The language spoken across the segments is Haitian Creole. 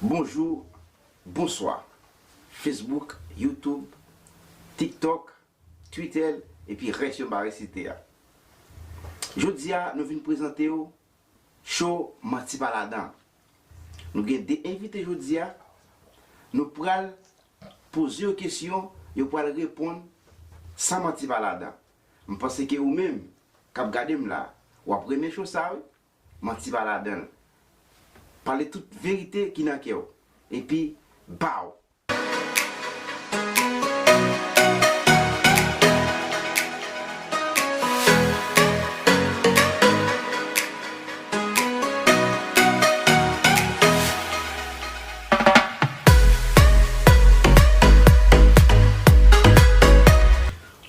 Bonjou bonswa Facebook YouTube Tiktok Twitter epi rès yo m pa resite a Jodi a nou vin prezante w show manti pa ladan Nou gen 2 envite jodi a Nou pral poze yo kesyon yo pral reponn san manti pa ladan M panse ke ou menm k ap gade m la w ap renmen show sa wi Manti pa ladanl. Pale tout verite ki nan kèw epi baww.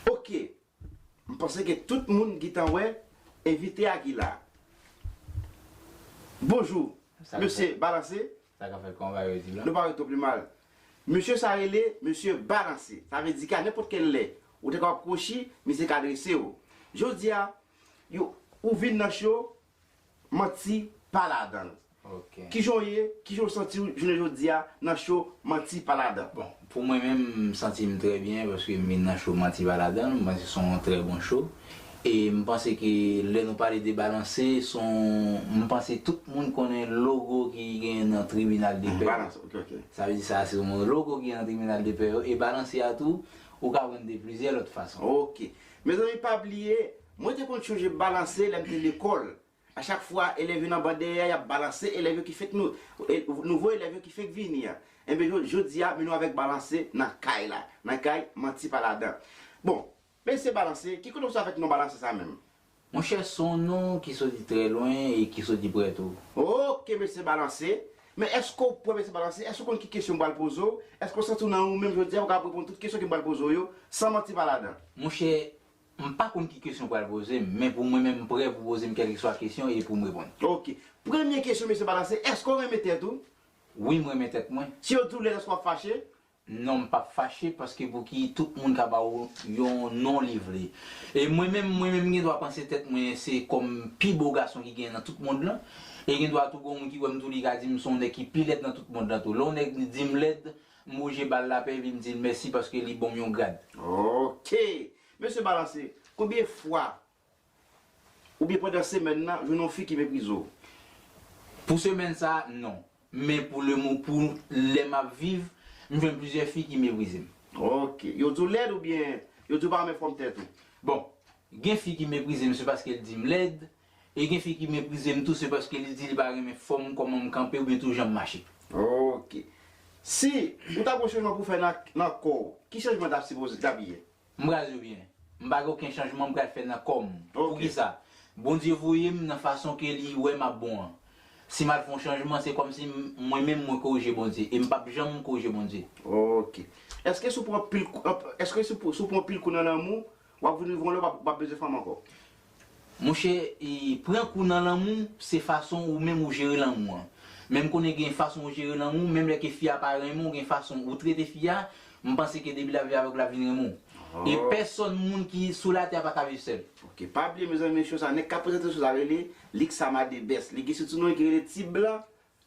Ok M panse ke tout moun gintan wè envite a ki la. Bonjou Mesye Balanse Nou pa wè twop limal Mesye sa rele Mesye Balanse Sa vle di ke a nenpòt kèl lè Ou te kapab kwochi Misye ka dresew Jodi a Ou vin nan cho Manti pa ladan l. Kijan w ye, kijan w santi w jounen jodi a nan show Manti pa ladan l? Bon, pou mwen menm, m santi m trè byen paske m vin nan show Manti pa ladan l. M panse s on trè bon show. E m panse ke lè nou pale de balanse, s on, m panse tout moun konnen logo ki genyen nan tribinal de pè yo. Sa vle di sa a se yon logo ki gen nan tribinal de pè yo. E balanse a tou, ou ka jwenn de plizyè lòt fason. Ok. Mezanmi pa bliye, Mwen te konn chonje balanse lè m te lekòl. A chak fwa elèv yo nan ban dèyè a y ap balanse elèv yo ki fèk nou, nouvo elèv yo ki fèk vini an. Enben jo, jodi a, men nou avèk balanse nan kay la. Nan kay, manti pa ladan. Bon, mesye balanse, ki kote ou sot avèk non balanse sa menm? Monchè s on non ki soti trè lwen e ki soti prè tou. Ok mesye balanse. Men èske ou prè mesye balanse? Èske ou konn ki kesyon m pral poze w? Èske ou santi w nan ou menm jodi a ou kapab reponn tout kesyon ke m pral poze w yo san manti pa ladan? Monchè, M pa konn ki kesyon w pral poze m, men pou mwen menm m prè pou poze m kèlkeswa kesyon e pou m reponn. Ok. Premye kesyon mesye pa la se, èske w renmen tèt ou? Wi m renmen tèt mwen. Si yo di w lèd èske w ap fache? Non m p ap fache paske pouki tout moun ka ba w yon non li vle. E mwen menm mwen menm m gen dwa panse tèt mwen se kòm pi bo gason ki genyen nan tout mond lan. E gen dwa tou gen yon moun ki wè m tou li ka di m se yon nèg ki pi lèd nan tout mond lan tou. Lè yon nèg di m lèd. M bouje bal la pe vin dil mèsi paske li bonm yon grad. Ok! Mesye balanse, konbyen fwa oubyen pandan semèn nan jwenn yon fi ki meprize w? Pou semèn sa non. Men pou le mo pou lè map viv, m jwenn plizyè fi ki meprize m. Ok! Yo di w lèd oubyen yo di w pa renmen fòm tèt ou? Bon, gen fi ki meprize m se paske l di m lèd, E gen fi ki meprize m tou se paske li di li pa renmen fòm, kòman m kanpe oubyen tou jan m mache. Ok. Si ou ta gon chanjman pou fè nan kò ou, ki chanjman ta sipoze ta pi ye? M pral di ou byen. M pa gen oken chanjman m pral fè nan kò m. Poukisa? Bondye voye m nan fason ke li wè m ap bon an. Si m al fè yon chanjman se kòmsi mwen menm mwen korije Bondye e m pap janm korije Bondye. Ok. Eske si w pran anpil kou nan lanmou, Wap vin yon vòlè ou pap bezwen fanm ankò. Monchè pran kou nan lanmou se fason ou menm ou jere lanmou an men m konnen gen fason ou jere lanmou menm lè ke fi a pa renmen w gen fason ou trete fi a m panse ke depi lap viv avèk ou lap vin renmen w e pèsòn moun ki sou latè a pa ka viv sèl. Ok pa bliye mezanmi show sa nèg kap prezante show sa rele Lixama the best li gen sou ti non li ki rele T-bla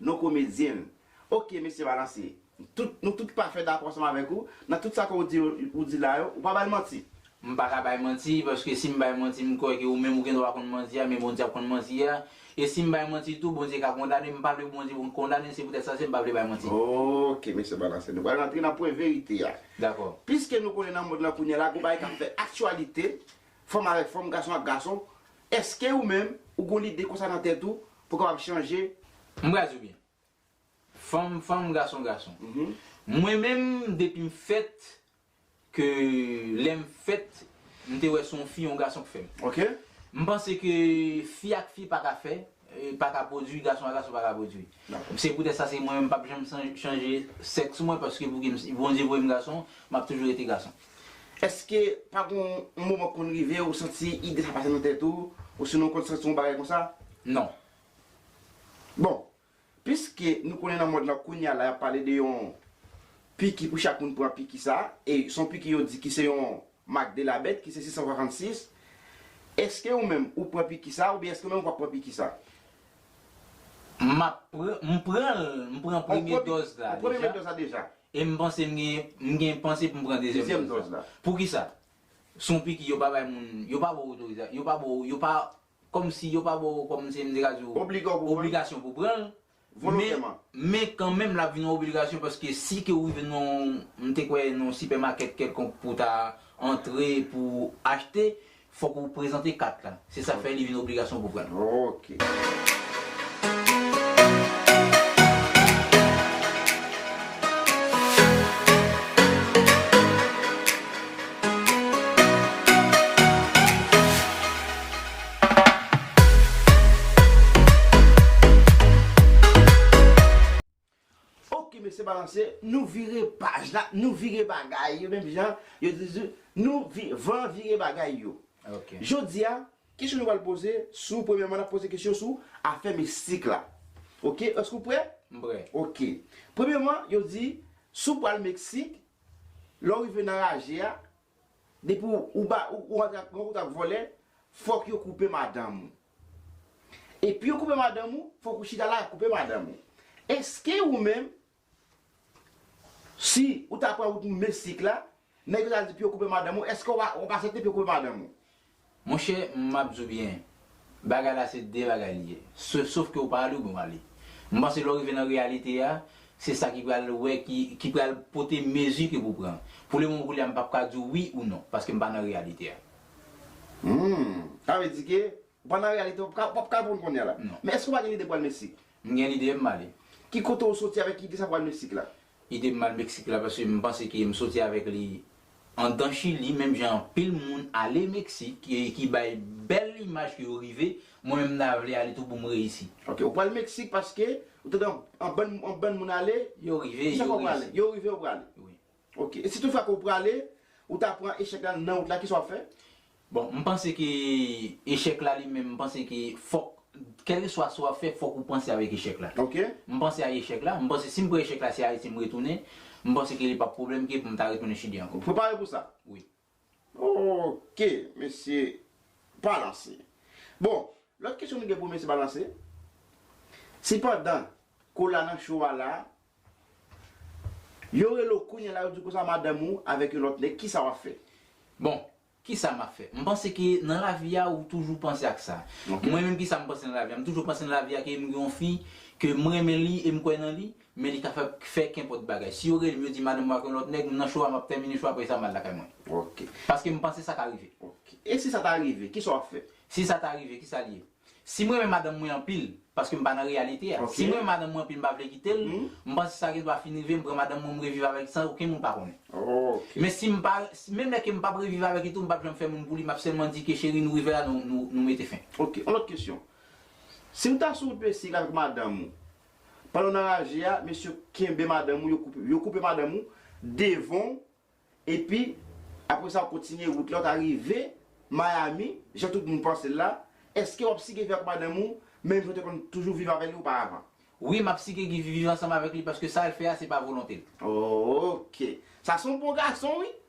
Non komedyen l. Ok mesye balanse. Tout nou tout pafè dakò ansanm avèk ou nan tout sa ke ou di yo ou di la yo ou pa bay manti. M pa ka bay manti, paske si m bay manti m kwè ke ou menm ou gen dwa konn manti a men Bondye ap konn manti a, e si m bay manti tou Bondye ka kondane m, m pa vle pou Bondye konn kondane m se poutèt sa se m pa vle bay manti. Ok mesye balanse nou pral rantre nan pwen verite a. Dakò. Piske nou konnen nan mond lan kounyela gou bagay kap fè aktyalite, fanm avèk fanm, gason ak gason, Eske ou menm ou gon lide konsa nan tèt ou pou kapab chanje? M brazi w byen. Fanm fanm gason gason. Mwen menm depi m fèt ke lè m fèt m te wè se yon fi yon gason k fè m. M panse ke fi ak fi pa ka fè paka pwodwi gason a gason paka pwodwi se poutèt sa se mwen menm pap janm chanje sèks mwen paske pouki si Bondye voye m gason map toujou rete gason. Eske pa gon yon moman k konn rive ou santi ide sa pase nan tèt ou osinon ou konn santi yon bagay konsa? Non. Bon, piske nou konnen nan mond lan kounya la yap pale de yon piki pou chak moun pran piki sa e son piki yo di ki se yon Mak de la bèt ki se 666 Eske ou menm ou pran piki sa oubyen eske ou menm ou pap pran piki sa? M ap pran, m pran l, m pran premye dòz la deja e m panse m gen, m gen panse pou m pran dezyèm dòz la. Poukisa? Se yon piki yo pa bay moun, yo pa ba w otorizasyon, yo pa ba w, yo pa, kòm si yo pa ba w, kòm si m te ka di w, obligasyon pou w pran l. volontèman. Men kanmenm l ap vin yon obligasyon paske si ke ou rive nan yon, m te kwè, nan yon sipèmakèt kèlkonk pou w ta antre pou w achte, fòk ou prezante kat la. Se sa k fè li vin obligasyon pou w pran l. Ok. Ok mesye balanse nou vire paj la nou vire bagay yo menm jan yo di di nou van vire bagay yo Jodi a kesyon nou pral poze sou premyèman n ap poze kesyon sou afè mistik la ok èske ou prè M prè ok premyèman yo di si w pral Meksik lè w rive nan raje a Depi ou ba ou antre ak mwen ou tap vòlè fòk yo koupe madanm ou epi yo koupe madanm ou fòk ou chita la yo koupe madanm ou eske ou menm si ou ta pran wout mesik la nèg yo ta di pou yo koupe madanm ou eske wap asepte pou yo koupe madanm ou Monchè map di w byen bagay la se de bagay li ye sof ke ou pa ale ou bon ale m panse lè w rive nan reyalite a se sa ki pral wè ki pral pote mezi ke pou pran pou le moman koulye a m pap ka di w wi ou non paske m pa nan reyalite a. Humm sa vle di ke ou pa nan reyalite a ou pap ka reponn kounye a la men èske ou pa gen lide pou al meksik M gen lide m ale. Ki kote ou soti avèk ide sa pou al Meksik la? Ide m al Meksik la paske m panse ke m soti avèk li andan Chili menm jan anpil moun ale Meksik e ki bay bèl imaj ke yo rive, mwen menm m ta vle ale tou pou m reyisi. Ok, ou pral Meksik paske ou tande anbann moun ale? Yo rive, yo reyisi. Yo rive, yo prale. Wi. Ok, e si tout fwa ke ou prale, ou ta pran echèk la nan wout la, kisa wap fè? Bon, m panse ke echèk la li menm, m panse ke fòk, kèlkeswa sa wap fè, fòk ou panse avèk echèk la. Ok. M panse a echèk la, m panse si m pran echèk la, se Ayiti m retounen, m panse ke li pap pwoblèm ke pou m ta retounen Chili ankò. Ou prepare pou sa? Wi. Ok mesye balanse. Bon lòt kesyon nou gen pou mesye balanse si pandan kola nan cho a la yo rele w kounya la yo di w konsa madanm ou avèk yon lòt nèg kisa wap fè? Bon kisa map fè m panse ke nan lavi a ou toujou panse ak sa mwen menm kisa m panse nan lavi a m toujou panse nan lavi a ke m gen yon fi ke m renmen li e m kwè nan li Men li ka fè fè kenpòt bagay. Si yo rele m yo di m ale m wake yon lòt nèg, m nan cho a m ap tèmine cho a apresa m al lakay mwen. Ok. Paske m panse sa ka rive. Ok. E si sa ta rive, kisa w ap fè? Si sa ta rive, kisa l ye? Si m renmen madanm mwen anpil, paske m pa nan reyalite a, si m renmen madanm mwen anpil m pa vle kite l, m panse sa gen dwa fin rive m pran madanm mwen m reviv avèk li san okenn moun pa konnen. Ok. Men si m pa, menm lè ke m p ap reviv avèk li tou m p ap janm fè moun pou li, m ap sèlman di ke cheri nou rive la nou mete fen. Ok. Yon lòt kesyon. Si w ta sou wout Meksik avèk madanm ou, Pandan w nan raje a, mesye yo kenbe madanm ou, yo koupe madanm ou devan w, epi apre sa w kontinye wout la, w ta rive Miami, jan tout moun panse l la, èske w ap sike viv ak madanm ou menm jan w te konn toujou viv avè li oparavan? Wi, m ap sike viv ansanm avèk li paske sa l fè a se pa volonte l. Oke. Sa se yon bon gason wi!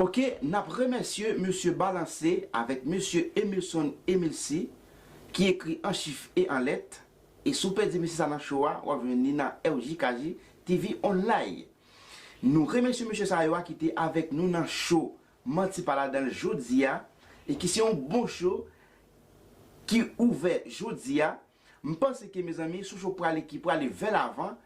Ok nap remèsye mesye Balanse avèk mesye Emilson Emilsi ki ekri an chif e an lèt e si w pèdi mesye sa nan show a wap jwenn li nan RJKJ TV online. Nou remèsye mesye sa yo a ki te avèk nou nan show Manti pa ladan l jodi a e ki se yon bon show ki ouvè jodi a. M panse ke mezanmi sou show prale ki prale vè lavan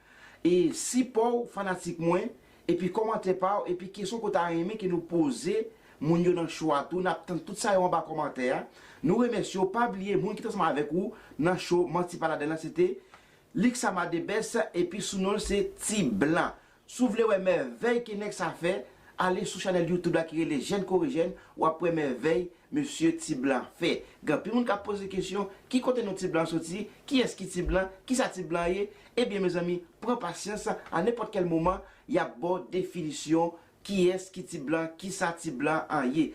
e sipò w fanatik mwen epi kòmantè pa w epi kesyon ke w ta renmen ke nou poze moun yo nan show a tou nap tann tout sa yo anba kòmantè a nou remèsye w pa bliye moun ki t ansanm avèk ou nan show manti pa ladann lan se te Luxama the best epi sou non l se T-blan Si w vle wè mèvèy ke nèg sa fè, ale sou chanèl YouTube la ki rele Jèn kore jèn, w ap wè mèvèy mesye Ti Blan fè. Gen anpil moun k ap poze kesyon, ki kote non Ti Blan an soti, kiyès ki Ti Blan, kisa Ti Blan ye? Ebyen mezanmi, pran pasyans, a nenpòt kèl moman, y ap ba w definisyon kiyès ki Ti Blan, kisa Ti Blan an ye.